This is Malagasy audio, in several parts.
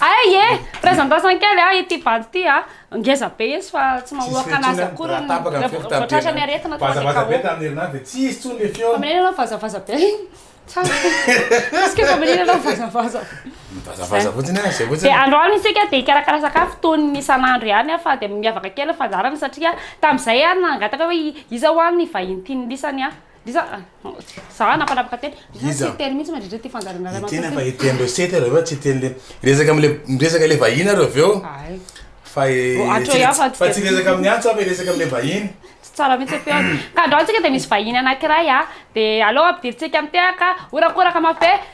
Ay e! Razandrasana kely a ity bandy ity a! Ngeza be izy fa tsy mamoaka anazy akory ny vao tratran'ny aretina tonga dia KO. Faminaniana ianao vazavaza be. Est-ce que faminaniana ianao vazavaza. Vazavaza fotsiny a, zay fotsiny. Dia androany isika dia hikarakara sakafo toy ny isan'andro ihany a fa dia miavaka kely ny fandaharana satria tamin'izay aho nangataka hoe iza ho'a ny vahiny tian'ny lisany a! Iza? Za nampanapaka teny. Iza? Iza? Tsy teny mihitsy mandritra ity fandaharana iray Ekena fa mantsy. eken'ireo site ianareo fa tsy teny le miresaka am'le miresaka le vahiny ianareo avy eo Ay, fa e Oh, atro tsy- ihany fa tsy fa tsy dia- resaka amin'ny antso aho fa resaka am'le vahiny. tsy tsara mihitsy feo. Ka androany tsika dia misy vahiny anankiray a, dia aleo ampidirintsika mitehaka, horakoraka mafy be,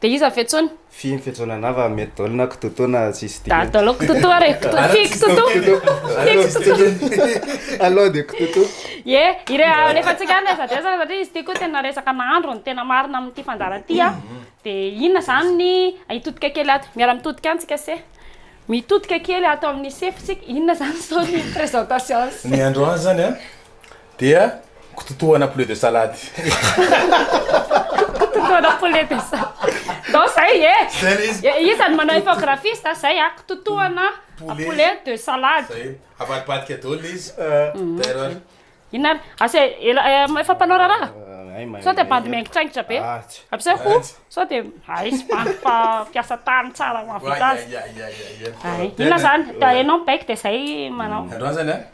Dia iza Fetsona? Fy Fetsona anah fa mety daholo na Kitotoa na tsisy dikany. Daholo daholo Kitotoa re, fy Kitotoa, fy Kitotoa. Aleo dia Kitotoa. Ie, ireo alefantsika any aiza dia aiza satria izy ity koa tena resaka nahandro no tena marina amin'ity fandaharana ity an! Dia inona izany ny hitodika kely ato, miara mitodika any tsika se. Mitodika kely ato amin'ny sefo tsika, inona izany izao ny présentation? Ny androany izany an! Dia kitotohana poulet de salade. Kitotohana poulet de salade. Ndao zay e. Iza no manao infographiste a? Zay a, kitotohana poulet de salade. Zay, avadibadika daholo le izy. Terror. Inona ary? Asa e, efa mpanao raharaha? Sao dia bandy miaingitraingitra be? Ampiasao ho, sao dia aizy bandy fa mpiasa tany tsara mahavita azy. Ay, inona zany? Ianao mibaiko dia zay manao. Androany zany a?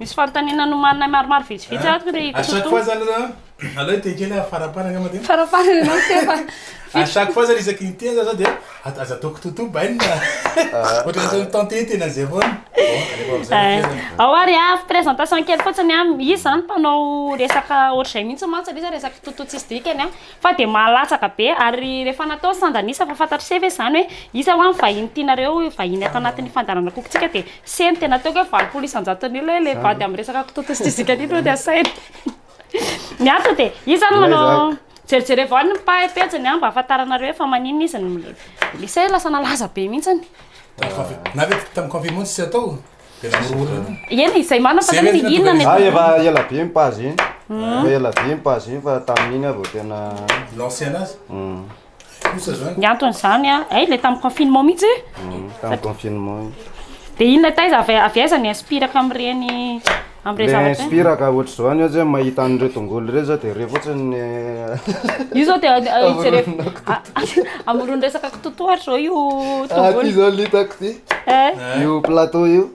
Misy fanontaniana nomaninay maromaro vitsivitsy ato ry Koto. À chaque fois zany ra aleo hiteny kely aho faraparany angamba dia. Faraparany ianao Siteny fa. À chaque fois zany isaky ny teny zany dia aza ataoko Toto bainina a. Ohatra ataony tantôt io tena zay foana. Bon alefa amizay ny toerana. Ao ary a, présentation kely fotsiny a, izy zany mpanao resaka ohatr'izay mihitsy mantsy aloha izy a, resaka Toto tsisy dikany a. fa dia mahalatsaka be ary rehefa natao sandan'isa fa fantatr'ise ve izany hoe isa ho'a ny vahiny tianareo vahiny ato anatin'ny fandaharan'akokotsika dia se ny tena ataoko hoe valopolo isan-jatony io le vady amin'ny resaka kitoto sy tizika io no asaina ny antony dia isa no manao jerijereo avao ny pahy pejiny an mba hahafantaranareo hoe fa maninona izy ny isa lasa nalaza be mihitsy ny na ve tamin'ny confinement tsy atao Eny izay manana fa zany ny inona ny Ah, efa ela be ny page iny. Efa ela be ny page iny fa tamin'iny aho vao tena Lancer anazy? Hum, Kosa zany? Ny antony izany an, hay le tamin'ny confinement mihitsy e. hum, tamin'ny confinement iny. Dia inona taiza avy avy aiza ny inspiraka amin'ireny Amin'ireo zavatra. Le inspire ka ohatr'izao any aza mahita an'ireo tongolo ireo zao dia re fotsiny ny. Io zao dia jereo amoron'ny resaka kitotohatra zao io tongolo. Aty zao litako ty. Io plateau io.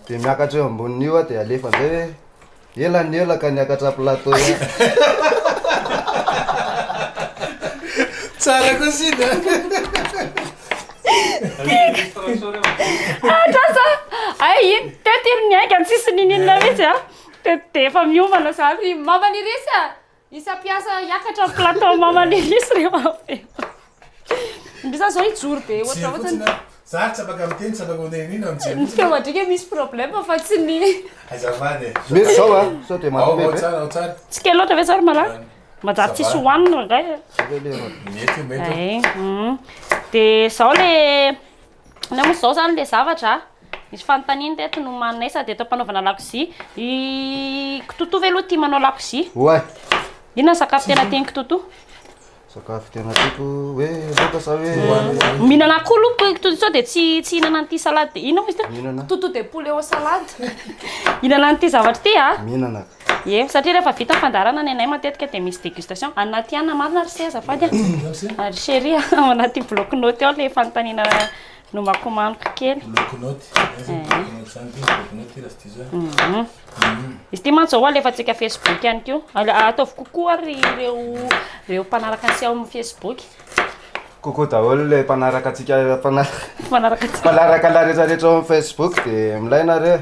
Dia miakatra eo ambonin'io aho dia alefa amin'izay hoe ela ny ela ka niakatra plateau io. Tsara koa sida. Atrasa! Ay iny teto iny niainga ny sisiny iny inona mihitsy a. Teto dia efa miomana za ry maman Irisy a! Isa mpiasa hiakatra ny plateau maman Irisy ry maman. Ndry za zao hijoro be ohatra Jery fotsiny ohatra. a. Za tsy afaka miteny, tsy afaka manao inona, mijery Ny fotsiny. feo adrika misy problème fa tsy ny Azafady e. Mety zao a, sao dia Ao, ao mampipepy e. tsara, ao tsara. Tsy kely loatra ve zao ry malala? Manjary tsisy hohanina indray. Eh, mm. Dia izao le na moa izao zany le zavatra misy fanontaniana teto no manay sady eto am-panaovana lakozia. I Kitoto ve aloha tia manao lakozia? Oay, Inona ny sakafo tena tian'i Kitoto? sakafo tena tiako hoe loaka sa hoe hohanina. Mihinana akoho aloha ko- Kitoto sao dia tsy tsy hihinana an'ity salade. Inona moa izy ity? Mihinana, Kitoto de poulet au salade. Hihinana an'ity zavatra ity a. mihinana ka. Ie, satria rehefa vita ny fandaharana ny anay matetika dia misy dégustation, anaty anona marina ry se azafady a, ry chéri a, ao anaty bloc note ao ilay fanontaniana nomakomaniko kely. Bloc note, zany zany bloc note zany ty, bloc note ty raha tsy diso a. Izy ity mantsy zao alefantsika facebook ihany koa, ataovy coucou ary ireo mpanaraka antsika ao amin'ny facebook. Coucou daholo ilay mpanaraka antsika, mpanaraka antsika, mpanaraka anay rehetra rehetra ao amin'ny facebook dia milay nareo e.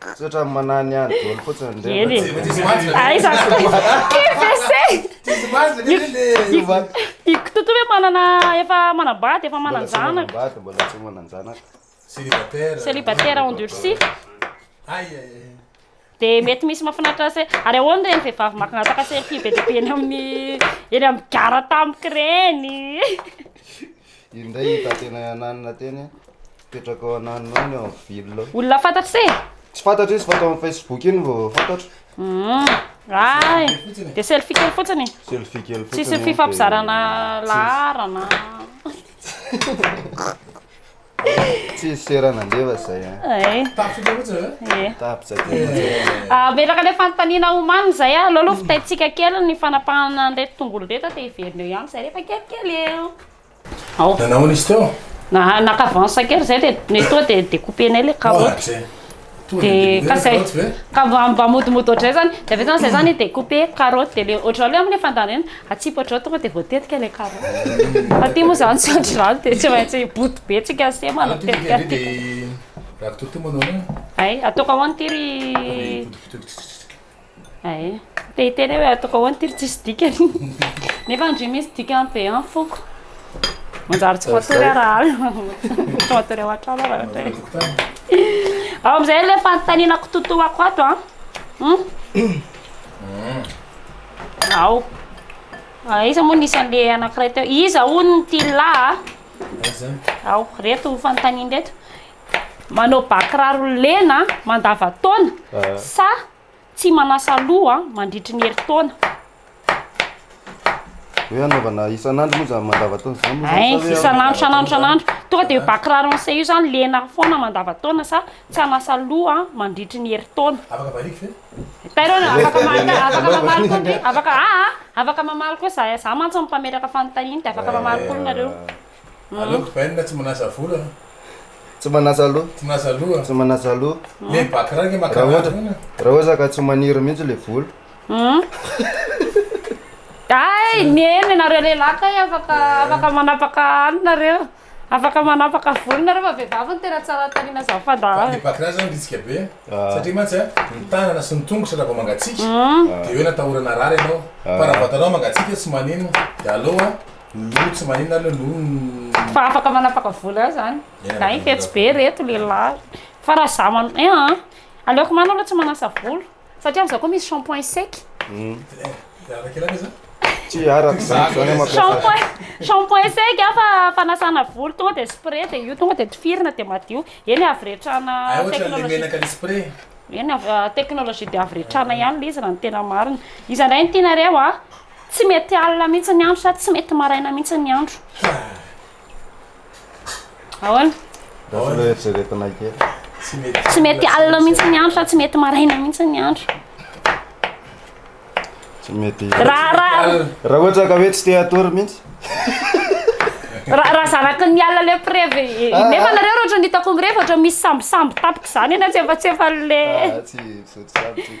Misaotra amin'ny manahy ny ahy dolo fotsiny ndrey. Eny e. Aiza QVC. I Kitoto ve manana efa manambady efa manan-janaka. Mbola tsy manambady mbola tsy manan-janaka. Célibataire. Célibataire endurci. Aïe aïe. Dia mety misy mahafinaritra se. Ary ahoana ireny vehivavy mangataka selfie be dia be eny amin'ny eny amin'ny gara tampoka ireny. Iny indray i Tatena Ananina teny, mipetraka ao Ananina ao ny ao amin'ny ville ao. Olona fantatro se? Tsy fantatro izy fa tao amin'ny Facebook iny vao fantatro. Hum, ay, dia selfie kely fotsiny. Selfie kely fotsiny. Tsisy fifampizarana laharana. Tsisy sera nandeva izay. Avelako ilay fanontaniana homany izay aloha aloha vitaintsika kely ny fanapahana an'ireto tongolo ireto dia heverina eo ihany izay rehefa kelikely eo. Nanao ahoana izy teo? Naka avance kely izay dia mety hoe dia découper-nay ilay karaoty. Dia ka izay ka mba modimody ohatran'izay izany. Dia avy eo izany izay izany i découper karaoty dia ilay ohatran'ilay amin'ny fandaniana. Atsipatra ao tonga dia voatetika ilay carreau. Fa aty moa izany tsy ohatry izany dia tsy maintsy boty be tsika sy ema no mitetika aty. Raha kitoto manao hoe. Ay, ataoko ahoana ity ry. Ay, te hiteny hoe ataoko ahoana ity ry tsisy dikany. Nefa ndry misy dikany be an foko. Manjary tsy matory aho raha alina. Tsy matory ao an-trano aho raha ohatra hoe. Amin'izay ilay fanontaniana kitotoako ato an. Ao. Ah, iza moa nisy an'ilay anankiray teo? Iza hono ny tilà? Ao, reto ny fanontaniana reto. Manao bakiraro lena mandavataona ah. sa tsy manasa loha mandritry ny herintaona? hoe anaovana isan'andro moa zany mandavataona zany moa zany eh, isan'andro isan'andro isan'andro tonga dia bakiraro an'se io zany lena foana mandavataona sa tsy anasa loha mandritry ny herintaona afaka variako ve Tairo an, afaka mamaly afaka mamaly koa ndry afaka a a afaka mamaly koa za za mantsy no mpametraka fanontaniana dia afaka mamaly koa nareo Aleoko bainina tsy manaza vola an. Tsy manaza loha. Tsy manaza loha. Tsy manaza loha. Le bac raha nge Raha ohatra makarary an. raha ohatra ka tsy maniry mihitsy le vola. Hay mihaino ianareo lehilahy kay afaka afaka manapaka any nareo. Afaka manapaka volo nareo fa vehivavy no tena tsara tarina zany fandaharana. Ny patrin zany bitsika be a, satria mantsy a, ny tanana sy ny tongotra raha vao mangatsiaka de hoe natahorana harary ianao, fa raha vatanao mangatsiaka tsy maninona, de aleo a, ny loha tsy maninona ary le loha. Fa afaka manapaka volo ihany zany, na iny fetsy be reto lehilahy, fa raha za mano, eeh, aleoko manana aloha tsy manasa volo. Satria amzao koa misy shampoing sec. Shampoing sec an fa fanasana volo tonga dia spray dia io tonga dia tifirina dia madio. Eny avy retrana technologie. Eny avy technologie dia avy retrana ihany ilay izy raha ny tena marina. Iza indray no tianareo an? Tsy mety alina mihitsy ny andro sa tsy mety maraina mihitsy ny andro? Ahoana? Raha ilay eritreretina kely. Tsy mety. Tsy mety alina mihitsy ny andro sa tsy mety maraina mihitsy ny andro. Tsy mety. Raha raha Raha ohatra ka hoe tsy te hatory mihitsy. raha raha zaraky ny alina le preve. Nefa nareo raha ohatra ny hitako mirevy ohatra misy sambosambo tapitra izany eny an-tsefatsefan'le. Ah, tsy misaotra sambo tsy.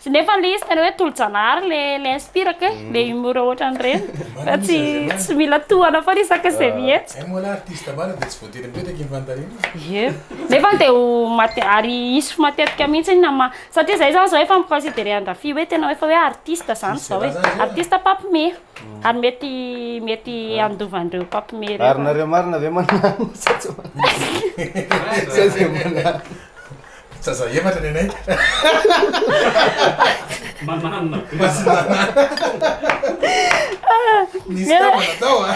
Tsy nefa le izy tena hoe tolo-janahary le le inspirako e, le humour ohatran'ireny fa tsy tsy mila tohana foana isaka izay mihetsika. Zay moa la artiste marina dia tsy voatery mipetraka eny Fantarinana e. Ie, nefa dia ho mate- ary hisy matetika mihitsy na ma- satria zay zany zao efa mi considerer an-dRafia hoe tena hoe efa hoe artiste zany Misy zao e, filazana zay a. artiste mpampme ary mety mety handova an'ireo mpampme ireo Ary nareo marina ve manana sa tsy manana? Zay zay manana. Zaza efatra nenay. Manana be. Nisy namana tao a.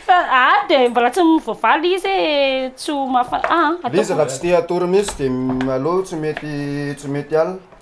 Fa ah dia mbola tsy voavaly izy eh, tsy ho mafa ah. Izy raha tsy te hatory mihitsy dia aleo tsy mety tsy mety alina.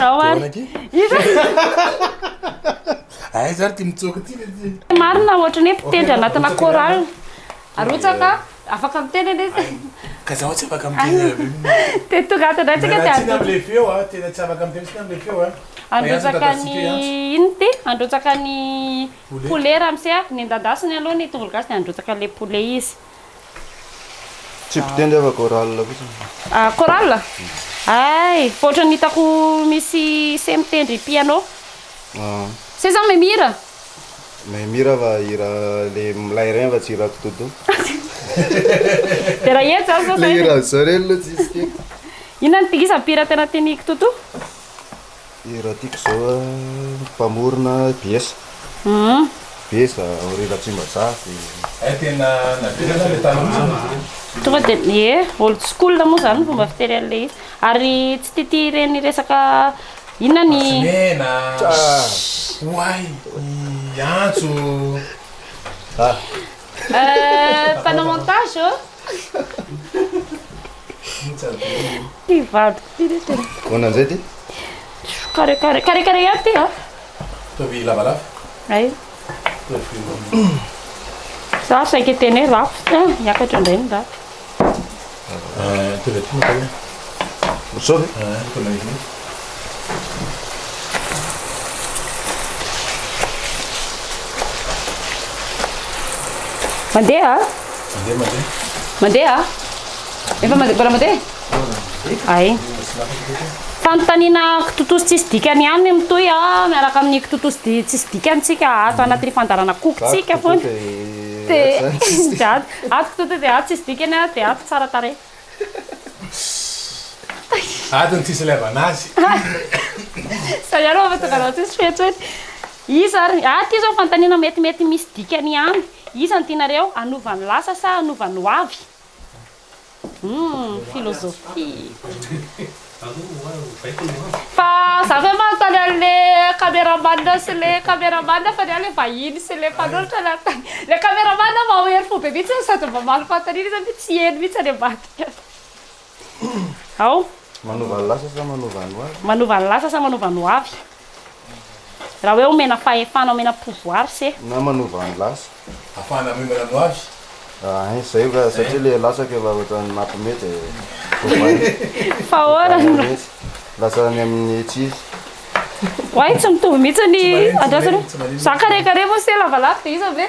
Ao ary. Iza? Ay zary ty mitsoaka ty le ty. Marina ohatra ny hoe mpitendry anatina chorale. Arotsaka, afaka miteny anie izy. Ka zaho tsy afaka miteny avy eo. Te tonga ato ndray tsika te Miala tsiny arotsaka. amle feo a, tena tsy afaka miteny tsika amle feo a. Fa i Antso Handrotsaka ny midadasika i Antso. inona ty? Handrotsaka ny Poulet. poulet ramose a. Nendandasiny aloha ny tongolo gasy dia handrotsaka le poulet izy. Tsy bde ndray fa chorale fotsiny. Ah chorale? Hay fa ohatran'ny hitako misy se mitendry piano. Ah. Se zany mahay mihira? Mahay mihira fa hira le milay regny fa tsy hira kitoto. De raha hira zany zao zay. Le hira zao regny aloha tsisy ke. Inona ny tgisa mpihira tena tian'i kitoto? Dia raha tiako izao ny mpamorona BS, BS Henri Ratrimajaha dia. Tena naverina ilay tany fotsiny. Tonga dia ie old school moa izany ny fomba fiteny an'ilay izy. Ary tsy tia tia ireny resaka inona ny. Tsimena, oay, ny antso. Euh, mpanao montage ô. Ty vadiko ty le tena. Ahoana an'izay ty? Kare kare kare kare ihany ty a. Ataovy lavalava. Ay. Za saika teny hoe rafitra, miakatra indray ny rafitra. Mandeha? Mandeha? Efa mandeha mbola mandeha? Ay. Fanontaniana kitotoso tsisy dikany ihany mitohy a miaraka amin'ny kitotoso di- tsisy dikany tsika ato anatin'ny fandaharana kokotsika foana. Dia- Zany. Ato tonta dia ato tsisy dikany a dia ato tsara tarehy. Ato ny tsisy ilevana azy. Zay ihany vao mahatonga anao tsisy feo intsony. Iza ary? Ato izao fanontaniana metimety misy dikany ihany. Iza ny tianareo? Hanova ny lasa sa hanova ny ho avy? Humm philosophie. Fa za ve manontany anle cameraman sy le cameraman fa ny ahy le vahiny sy le mpanoratra le anontany le cameraman aho maohery fo be mihitsy sady mba maro fanontaniana izy nefa tsy heno mihitsy any ambadika ao. Manova ny lasa sa manova ny hoavy? Manova ny lasa sa manova ny hoavy? Raha hoe omena fahefana, omena pouvoir se. Na manova ny lasa. Afahana miombana ny hoavy. Hein, zay ka, satria le latsaka efa ohatran'ny mampime de voavaina. Fa ahoana no. Mihitsy. Lasa any amin'ny tsy izy. Oay, tsy mitovy mihitsy ny andrasana. Za kare kare moa se lavalava de iza ve?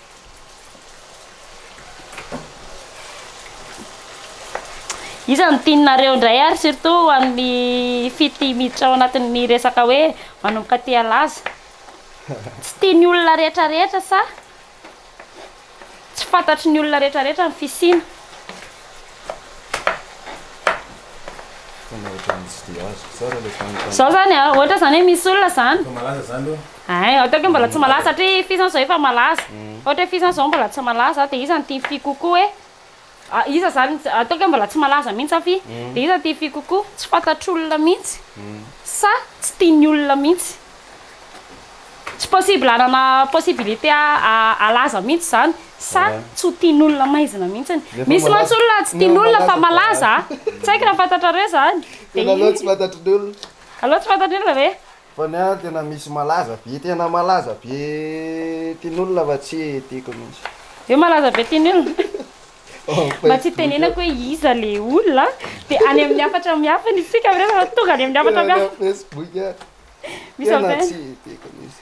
Iza no tianareo indray ary surtout ho an'ny fity miditra ao anatin'ny resaka hoe manomboka aty alaza. Tsy tian'ny olona rehetra rehetra sa tsy fantatry ny olona rehetra rehetra ny fisiana. Zao zany a, ohatra zany hoe misy olona zany. Malaza zany aloha. Ay, ohatra hoe mbola tsy malaza, ohatra hoe f'izany zao efa malaza, ohatra hoe f'izany zao mbola tsy malaza, de iza no tia f'y kokoa e? ah iza zany, ataoko hoe mbola tsy malaza mihintsy zany f'y, de iza no tia f'y kokoa? tsy fantatr'olona mihintsy sa tsy tian'ny olona mihintsy? tsy possible hanana possibilité halaza mihintsy izany sa tsy ho tian'olona maizina mihintsy? misy mantsy olona tsy tian'olona fa malaza a! tsy haiko raha fantatrareo izany, de iny aloha tsy fantatrin'ny olona, aloha tsy fantatrin'ny olona ve? Fa ny ahy tena misy malaza be tena malaza be tin'olona fa tsy tiako mintsy. Hoe malaza be tin'olona? Mba tsy tenenako hoe iza le olona de any amin'ny hafatra mihafa ny isika amin'ireo fa tonga any amin'ny hafatra mihafa. Tena tsy tiako mintsy.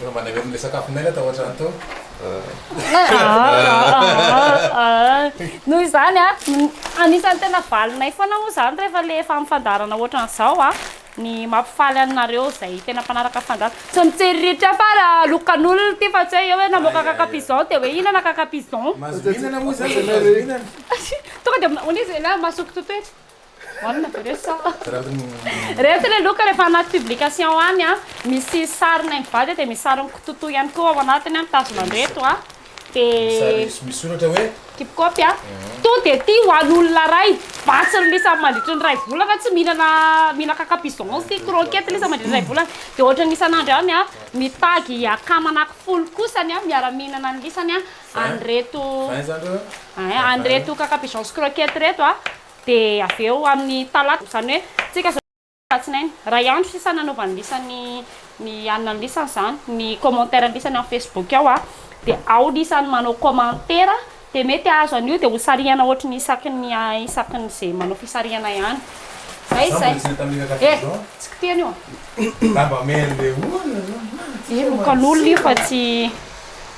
Efa mba naverina ilay sakafo naina tao an-trano tao. Noho izany, anisan'ny tena valinay foana moa izany rehefa ilay efa amin'ny fandaharana ohatran'izao ny mampifaly anareo izay tena mpanaraka fandahana. Tsy mitsiriritra fa lokan'olona ity fa tsy hoe eo hoe namoaka cacapigeon dia hoe hihinana cacapigeon. Mahazo mihinana moa izany e, mahazo mihinana. Tonga dia hono izy, masoko totoetra. Marina ve re sa? Rehefa ilay loka rehefa anaty publication any a, misy sarinay mivady dia misy sarin'i Kototo ihany koa ao anatiny a, mitazona an'ireto a. Dia Misoratra hoe? Keep copy a. Tonga dia ity ho an'olona iray vatsy rilisa mandritry ny iray volana tsy mihinana mihinaka capigeon sy croquette ilay izy mandritry ny iray volana. Dia ohatran'ny isan'andro ihany a, mitagy akama anaky folo kosa ny miara-mihinana an'lisany a. an'ireto an'ireto cacapigeons croquettes ireto dia avy eo amin'ny talata izany hoe tsika izao alatsinainy iray andro sisa nanaovany lisany ny hanina ny lisany izany ny commentaire ny lisany amin'ny facebook ao a dia ao lisany manao commentaire dia mety ahazo an'io dia ho sarihana ohatry ny isaky ny isaky ny izay manao fisarihana ihany zay zay eh tsy kitihana io a inokan'olona io fa tsy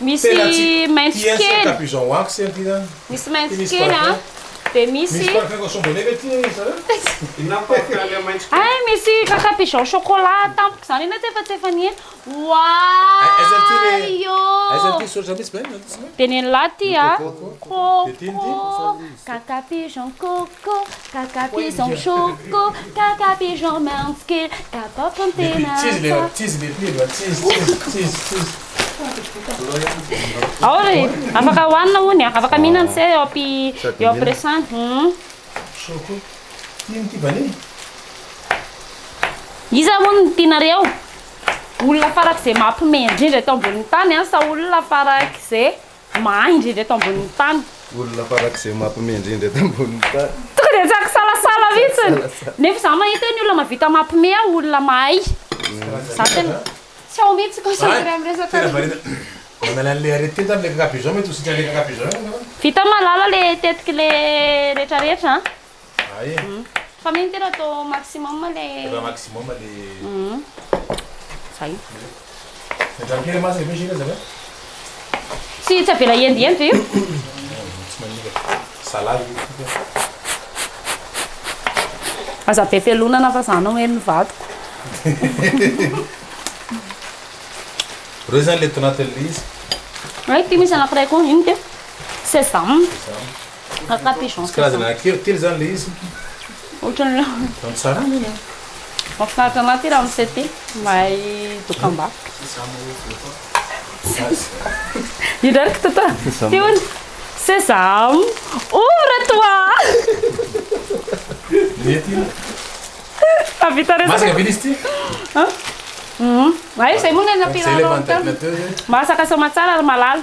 Misy maitso kely. Misy maitso kely a. Dia misy. Hay misy kaka pigeon chocolat tampoka izany ianao ity fa tsy efa nihaino. Wouahy ôh. Dia nen'lah ity a. Coco, kaka pigeon coco. Ko, kaka pigeon choco, kaka pigeon mints kely, kapaoko ny tena fa. Ao ry! Afaka hohanina hono e! Afaka mihinana se eo ampi, eo ampiresahana. Humm. Iza hono no tianareo? Olona farak'izay mampme indrindra eto ambonin'ny tany an, sa olona farak'izay. Mahay indrindra eto ambonin'ny tany. Olona farak'izay mampime indrindra eto ambonin'ny tany. Tonga dia tsy ankisalasala mihitsiny. Nefa izaho mahita hoe ny olona mahavita mampime aho olona mahay. Izaho tena tsy ao mihitsy concentré amin'ny resaka. Tena variana. Manala an'ilay arrêté zany ilay kakapizaon mety ho sitrana ilay kakapizaon angamba. Vita malala ilay tetik'ilay rehetrarehetra an. Ah eh. Hum. Fa mino tena atao maximum le. Atao maximum le. Hum. Zay. Midrao kely masaka be jus zaka. Tsy tsy avela hiendiendy ve io? Tsy manimba. Salady io foka. Aza be pelonana fa za no heno ny vadiko. Reo zany le tanatin'ilay izy. Ay ty misy anankiray koa ino ty? Sesame. Sesame. Kaka pigeon sèche. Karazana akeo telo zany le izy. Ohatrany hoe. Tsara ny anazy. Mahafinaritra anah ty ramose ty, mahay dokam-barotra. Indray ry kitoto a! Ty hono, sesame, ouvre toi! Mety io. Hahavita resaka. Masaka be izy ty. Hay izay moa ny any Ampiharao tany. Masaka soamantsara ry malala.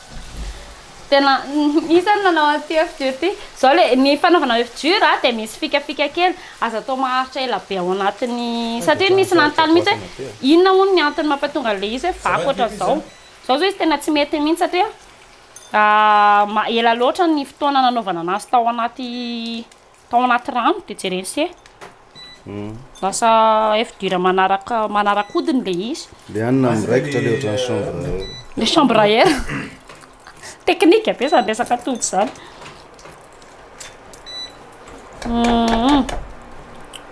Tena misy ny nanao an'ity oeuf dur ity. Izao le ny fanaovana oeuf dur a dia misy fikafika kely, aza atao maharitra ela be ao anatin'ny satria misy nanontany mihitsy hoe inona hono ny antony mampatonga an'ilay izy hoe vaky ohatran'izao. Izao izao izy tena tsy mety mihitsy satria ela loatra ny fotoana nanaovana anazy tao anaty tao anaty rano de jereny se lasa œuf dur manaraka manarakodiny le izy le any na miraikitra le ohatran'ny chambre à air le chambre à air technique be zany resaka atody zany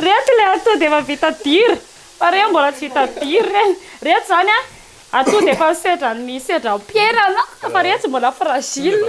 Reto le atoa dia efa vita dira fa reo mbola tsy vita dira re reto zany a atoa dia efa sedra ny sedra ampiherana fa reo tsy mbola fragile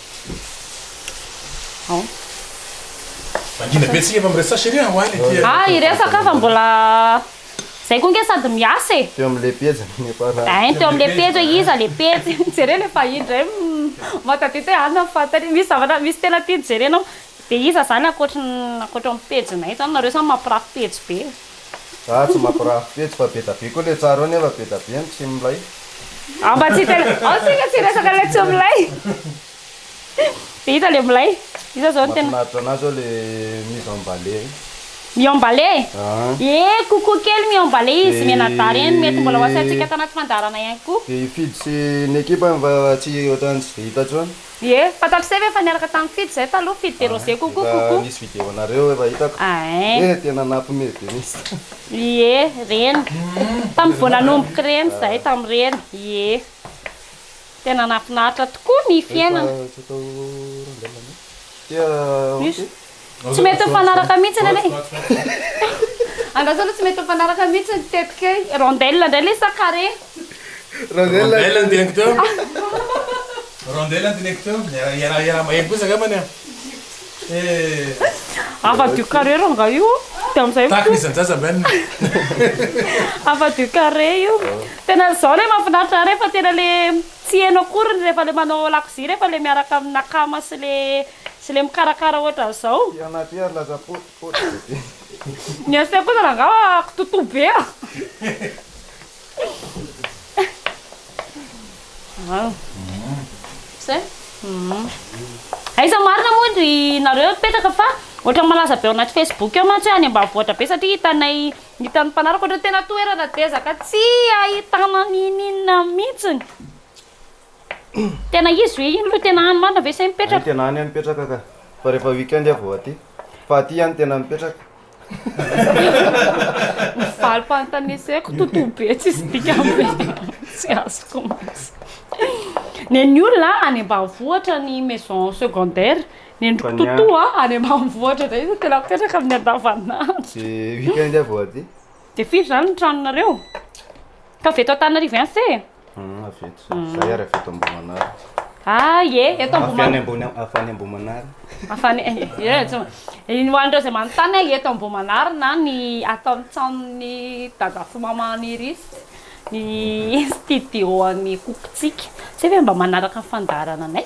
Mangina be tsika efa miresaka chérie an, hoany aty an. Ah hiresaka fa mbola zay koa nge sady miasa e. Teo amle pejy ny efa ra. Ein teo amle pejy hoe iza le pejy, jereo le fahiny ndray mahatadidy hoe anona ny fanontaniana, misy zavatra misy tena tiany jerena ao de iza zany ankoatry ny ankoatra ny pejinay zany, nareo zany mampirafy pejy be. Zah tsy mampirafy pejy fa be da be koa le tsara eo nefa be da be ny tsy milay. Aho mba tsy te ao tsika tsy hiresaka le tsy milay. Hita le milay. Iza zao no tena. Mafinaritra anazy ao le mise en bale io. Mi en bale? Ee kokoa kely mi en bale izy mianadahy reny mety mbola ho asaintsika tanaty fandaharana ihany koa. Dia hifidy sy ny ekipa any fa tsy ohatran'ny tsy dia hita intsony. Ie, fantatro se ve fa niaraka tamin'i Fijo zay taloha, Fijo de Rose coucou coucou. Nisy video anareo efa hitako. Ain. Eh tena nampme be mintsy. Ie, reny. Tamin'ny vao nanomboka reny zay tamin'ireny. Ie. Tena nahafinaritra tokoa ny fiainana. Efa tsy atao randalana. Tia ok. Tsy mety mifanaraka mihitsiny anie Angaha zao aloha tsy mety mifanaraka mihitsy ny tetika e. Rondelle ndray le sa carré? Rondelle no teneniko teo Rondelle no teneniko teo, iaraha iaraha maheno kosa angambany an eh. Afa du carré rangah io de amzay fo. Takina izany zaza Ben. Afa du carré io. Tena zao le mafinaritra ahy refa tena le tsy heno akoriny refa le manao lakozia refa le miaraka amina akama sy le. sy le mikarakara ohatran'izao. Ty anah ty ary laza poty poty be be. Ny an'siteny kosa angamba kitoto be a. Aiza marina moa ry nareo mipetraka fa ohatran'ny malaza be ao anaty Facebook ao mantsy hoe any ambanivohitra be satria hitanay hitan'ny mpanaraka ohatran'ny tena toerana dezaka tsy ahitana n'ininona mihitsiny. Tena izy ve iny lo tena any marina ve say mipetraka? Hay tena any aho mipetraka ka fa rehefa weekend aho vao aty fa aty aho no tena mipetraka. Ny valim-panotaneseko totoa be tsisy dikany be tsy azoko mihitsy. Nen'ny olona any ambanivohitra ny maison secondaire, nendriko totoa any ambanivohitra indray izy tena mipetraka amin'ny andavanandro. De weekend aho vao aty. De firy zany ny tranonareo? Ataovy eto Antananarivo ihany se e. Hum, avy eto zay. Za ary avy eto Ambohimanara. Ah, ie, eto Avy any Ambohimanara. ambony avy any Ambohimanara. Afany eh, tsy ma- iny ho an'ireo izay manontany hoe eto Ambohimanara na ny ato amin'ny tranon'ny Dada sy Mama Anirisy ny studio an'ny Coco-tsika. Tsy hay ve mba manaraka ny fandaharananay?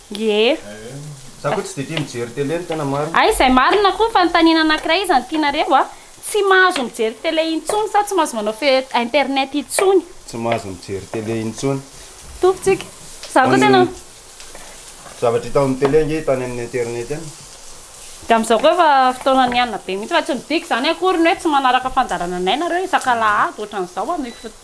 Ie. Za koa tsy de tia mijery télé no tena marina. Hay izay marina koa fanontaniana anakiray izany tianareo a, tsy mahazo mijery télé intsony sa tsy mahazo manao fe internet intsony? Tsy mahazo mijery télé intsony. Tompy tsika. Za koa tena. Zavatra hita ao amin'ny télé ange hita any amin'ny internet any. De amizao koa efa fotoana nianina be mihitsy fa tsy midika izany akory ny hoe tsy manaraka fandaharananay nareo isaka alahady ohatran'izao amin'ny fotoana.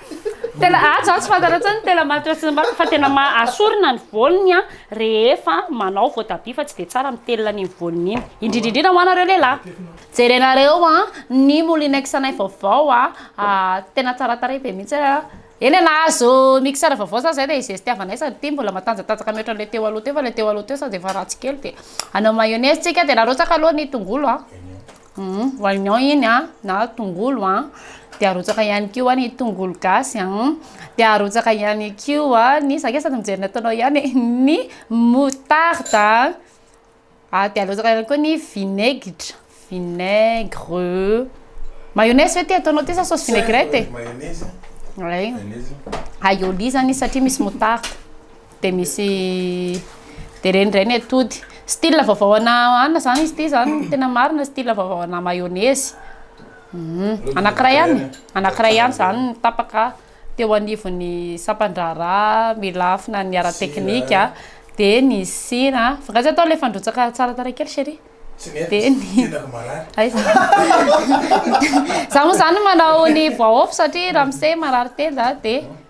Tena atsy ah, atsy ah, fantaratsy ny tena maty atsy mbato fa tena ma asorina ny volony ah, rehefa manao voatabia fa tsy dia tsara mitelina ny volony iny indrindra indrindra ho anareo lehilahy jerenareo a ah, ny molinex anay vaovao a ah, tena tsara tarehy be mihitsy a eny e nahazo mixeur vaovao za zay dia izestiavanay sady ity mbola matanjatanjaka mihoatra an'ilay teo aloha teo fa ilay teo aloha teo sao dia efa ratsy kely dia anao mayonnaise tsika dia narotsaka aloha ny tongolo a Humm oignon iny a na tongolo a, de arotsaka ihany koa ny tongolo gasy a, de arotsaka ihany koa ny, za nge sady mijery ny ataonao ihany e, ny moutarde a, de arotsaka ihany koa ny vinaigitra, vinaigre, mayonnaise ve ty ataonao ty sa sauce vinaigrette e? Mayonnaise, mayonnaise, aïoli zany izy satria misy moutarde. Dia misy dia ireny indray ny atody. Style vaovao ana anona izany izy ity izany no tena marina, style vaovao ana mayonnaise. Anankiray ihany, anankiray ihany izany no tapaka teo anivon'ny sampan-draharaha milafina ny ara-teknika, dia ny sira, vokatry atao ilay fandrotsaka tsara tarehy kely chérie. Dia ny, aiza, izaho moa izany manao ny voaôfy satria ramose marary tenda dia.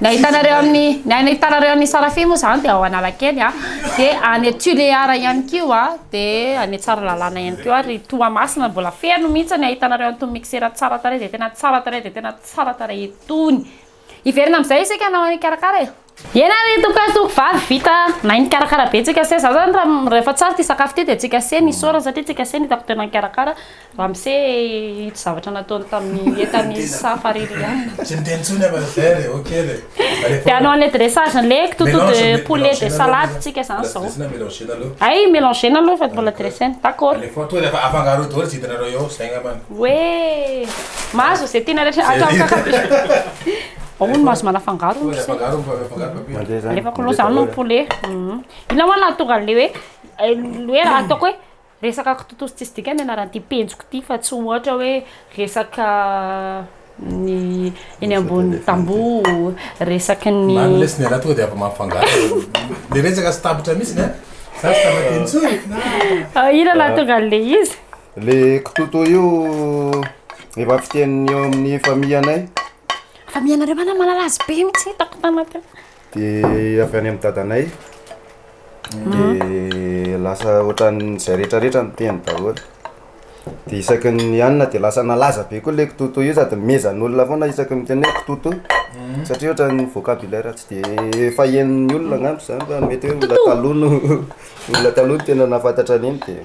Ny ahitanareo amin'ny ny aina hitanareo amin'ny Sarafia moa zany dia ao Analakely a, dia any Tulear ihany koa, dia any Tsaralalàna ihany koa ary Toamasina mbola feno mihitsy ny ahitanareo an'itony mixeur tsara tarehy izay tena tsara tarehy dia tena tsara tarehy itony. Hiverina amin'izay isika hanao an'i Karakara e! Eny ary toko lahy toko vavy vita nahay nikarakara be tsika se za zany raha rehefa tsara ity sakafo ity dia tsika se nisaorana satria tsika se nitako tena nikarakara Ramse ito zavatra nataony tamin'ny entany safa Ririana. Tsy miteny intsony aho fa vert e, ok le. Dia hanao an'ilay dressage an'ilay kitoto de poulet de salade tsika izany izao. Hay melanger-na aloha fa mbola dressena. D'accord. Alefaho tonga dia afangaroy daholo izay hitanareo eo, izay angambany. Hoe mahazo izay tiana rehetra atao ankakabeny. Ao hono mahazo manafangaro hono ry se. Alefako aloha izany ny poulet. Inona moa no nahatonga an'ilay hoe hoe raha ataoko hoe. Resaka kitotoso tsisy dikany ny anaran'ity penjiko ity fa tsy ohatra hoe resaka ny eny ambony tamboho, resaky ny. Mamy lesy ny anah tonga dia avy mampifangaro le resaka sy tampitra mihitsy ny an! Za tsy tafaditra intsony fa. Inona nahatonga an'le izy? Le kitoto io efa fiteny eo amin'ny famianay. Famianareo va na malala azy be mihitsy hitako tanaty. Dia avy any amin'ny dadanay, dia lasa ohatran'izay rehetrarehetra no teny daholo. Dia isaky ny nihanona dia lasa nalaza be koa ilay kitoto io sady nomezan'olona foana isaky ny miteny hoe kitoto. Satria ohatran'ny vocabulaire tsy dia efa henon'ny olona angamba izany fa mety hoe olona taloha no olona taloha no tena nahafantatra an'iny dia.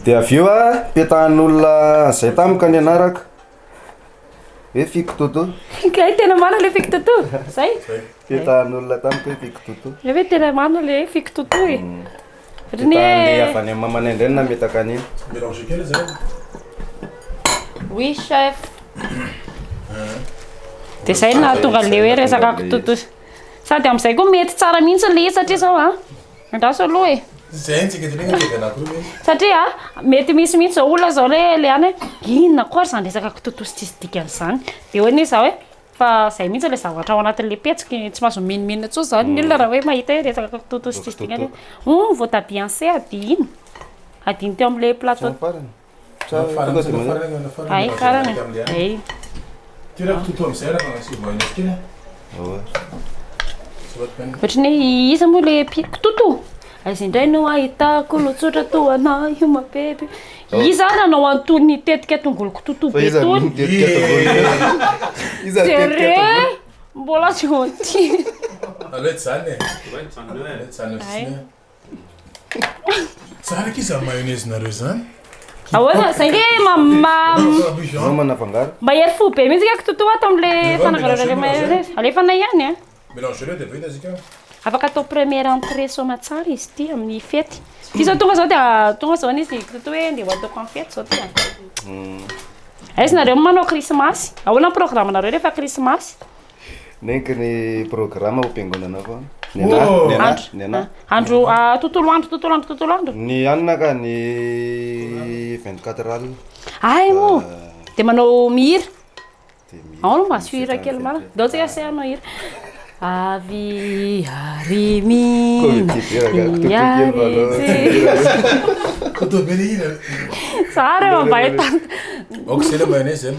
Dia avy eo petahana olona izay tamiko ka nianarako. Hoe fiko toto. Kay tena marina le fiko toto. Zay. Fetahan'olona tany hoe fiko toto. Le hoe tena marina le fiko toto e. Rene. Le avy any mamana indray no nametaka an'iny. Mélanger kely zay. Oui chef. Dia zay no nahatonga an'ilay hoe resaka kitoto. Sady amin'izay koa mety tsara mihitsy ilay izy satria izao a. Andraso aloha e. Zay ntsika de mena de anako io mihitsy. Satria mety misy mihitsy zao olona zao le le any inona koa ary zany resaka kitotosa tsisy dikany zany. De hoe ne za hoe fa zay mihitsy le zavatra ao anatin'le petsiko tsy mahazo mimimina intsony zany ny olona raha hoe mahita hoe resaka kitotosa tsisy dikany hoe oh ny voatabia anse adino adino teo am'le plateau. Ohatrany hoe iza moa le pi- kitoto? Aiza indray no ahitako lotsotra toa anao io mapepy Iza ary nanao an'itony tetika tongolo kitoto be itony? Jereo! Mbola tsy voatery Aleo tsy zany e. Ay. Tsara akia zany mayonnaise nareo izany. Ahoana? Zay nge ma ma Maman afangaro. mahery fo be mihitsy nge kitoto ato amle fananganana le mayonnaise. Alefanay ihany a. Mélanger le dia vita isika. Afaka atao première entrée soamatsara izy ity amin'ny fety. Ity zao tonga zao dia tonga zao ny izy kitoto hoe ndeha ho ataoko amin'ny fety zao ty a. Aiza nareo manao krismasy? Ahoana ny programme nareo rehefa krismasy? Neniko ny programme ho piangonana fa ny ana oh! ny ana ny ana andro ah, tontolo andro tontolo andro tontolo andro ny anina ka ny vingt quatre al ay mo de manao mihira ao no maso hira kely mara dao tsika se anao hira avy arimina iaritsy zary mambahitana ok zay le mba enay zany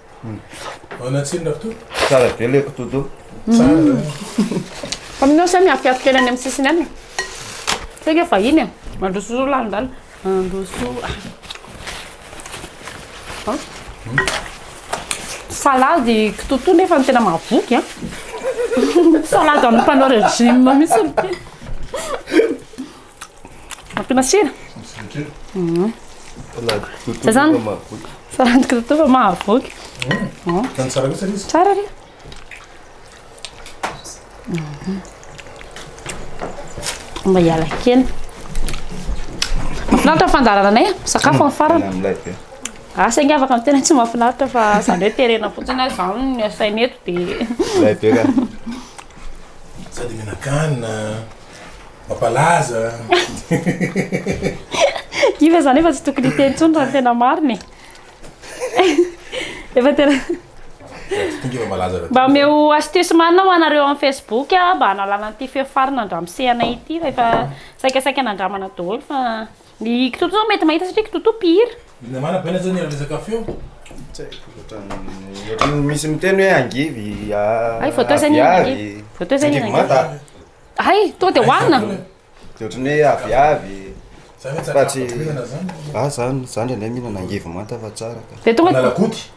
Ahoana tsiny Rakoto? Tsara be le kotodo. Tsara zany. Aminao sa miafiafy kely any amin'ny sisiny any e. Sao ke vahiny e. Mandroso roa lalindalina. Mandroso. Salady kitoto nefa ny tena mahavoky a. Salady an'ny mpanao régime mihitsy ity. Ampiana sira? Zay zany. Saran'ny kitoto fa mahavoky. Zany tsara kosa izy. Tsara re. Mba hiala kely. Mafinaritra ny fandaharana anay, sakafo amin'ny farany. Amin'ilay be. Asa inga afaka ny tena tsy mahafinaritra fa zany hoe terena fotsiny azy zany ny asaina eto dia Ilay be ka. Sady mihinan-kanina. Mampalaza. Kivy zany efa tsy tokony hiteny intsony raha ny tena marina e. Efa tena Mba omeo astuce marina ho anareo amin'ny Facebook mba hanalana an'ity feo farina andramosehanay ity fa efa saikasaika nandramana daholo fa Ny kitoto zao mety mahita satria kitoto mpihira. Namana baina zao ny resaka feo. Tsy haiko ohatran'ny ohatran'ny misy miteny hoe angivy Hay voatao zay ny aviavy. angivy. Voatao zay ny Angivy angivy. manta. Hay tonga dia hohanina. Dia ohatran'ny hoe aviavy. Zany hoe Fa tsy- tsaramaso-bolongana zany. Ah zany, zany ndray mihinana angivy manta fa tsara ka. Dia tonga. Analakody.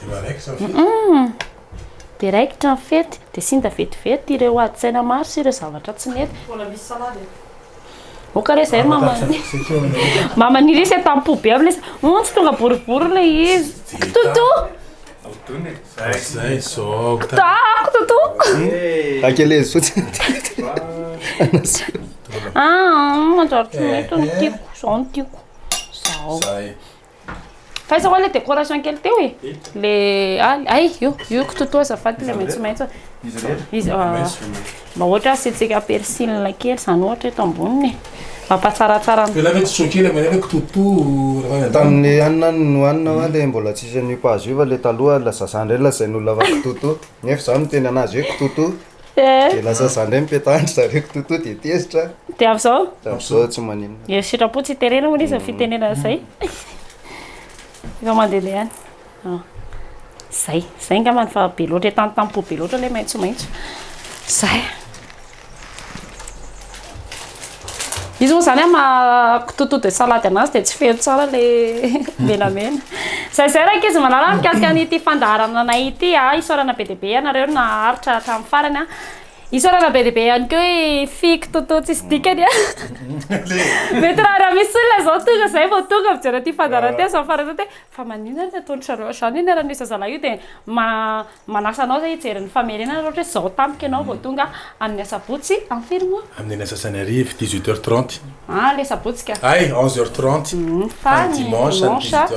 Dia mba raikitra ny fety. Humm. Dia raikitra ny fety. Dia sinda vetivety ireo adin-tsaina maro sy ireo zavatra tsy nety. Mbola misy salady eto. Oka re zay mama mama nirisa tam po be am le humm tsy tonga boribory le izy kitoto Zay zao. Taako toto. Akelez fotsiny. Ah, manjary tsy mety ny tiako, zao ny tiako. Zao. Zay. Faiza wa le décoration kely teo e? Le aly, ay io, io kitoto azafady le maitsomaitso. Izy rehetra? Izy, mba ohatra asiantsika persil kely zany ohatra eto amboniny e. Mampatsaratsara ny. Ialahy ve tsy choqué le maneno hoe kitoto raha any an-tany? Tamin'ny hanina nohanina wa le mbola tsisy an'io pazo io fa le taloha la zazandreny la zay no lava kitoto. Nefa za miteny anazy hoe kitoto Eh. Dia lasa zany indray mipetahany ry zareo kitoto dia tezitra. Dia amin'izao? Dia amin'izao tsy maninona. Dia sitrapo tsy terena hono izy ny fitenenana izay. Efa mandehandeha ihany. Ah. Izay, izay angamba ny fa be loatra etantam-po be loatra ilay maitsomaitso. Izay. Izy moa zany maha tutu de salade anazy dia tsy feno tsara le menamena. Zay zay rankizy malala mikasika an'ity fandaharana anay ity a, isaorana be dia be ianareo naharitra hatramin'ny farany a. Isaorana be dia be ihany koa i fiko tutu tsisy dikany a. Mety raha raha misy olona zao tonga zay vao tonga mijery an'ity fandaharana ity aza mifanantso hoe fa maninona no ataon-dry zareo zany io niara-nisy zazalahy io dia ma- Manasa anao izay hijery ny famerenana raha ohatra hoe izao tampoka ianao vao tonga amin'ny asabotsy any Firimo. Amin'ny antsasany hariva, dix-huit heures trente. Ah, ilay sabotsy ka. Ay, onze heures trente. Fa ny dimanche,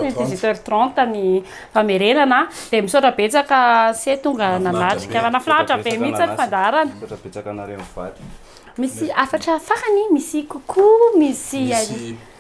dix-huit heures trente ny famerenana. Dia misaotra betsaka anse tonga nanatrika. Nahafinaritra be mihitsy ny fandaharana. Misaotra betsaka anareo mivady. Misy hafatra farany? Misy coucou, misy.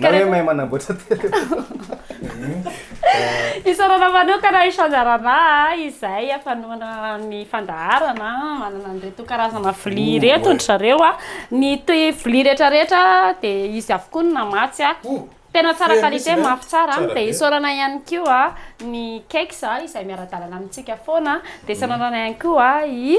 Na hoe mahay manamboatra téléphone. Isaorana manokana i Change Arana izay afanoana ny fandaharana manana an'ireto karazana vilia ireto ndry zareo. Ny vilia rehetra rehetra dia izy avokoa no namatsy. Tena tsara qualité, mafy tsara. Dia isaorana ihany koa ny Kex izay miara-dalana amintsika foana. Dia isaorana ihany koa i.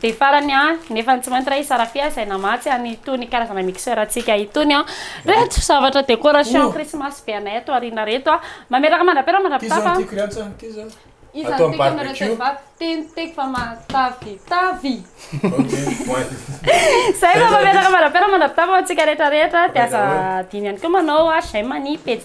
Dia farany an, nefa tsy maintsy raha i Sarafia izay namatsy an itony karazana mixeur antsika itony an, reto zavatra décoration krismasy be anay ato aoriana reto an, mameraka mandrapera mandrapitafa an. Ty zany tiako ry antsy an, ty zany atao am barbecue. Ty ny tiako fa matavitavy. Ok voay. Zay fa mameraka mandrapera mandrapitafa ho antsika rehetra rehetra dia aza adino ihany koa manao j'aime ny pejy.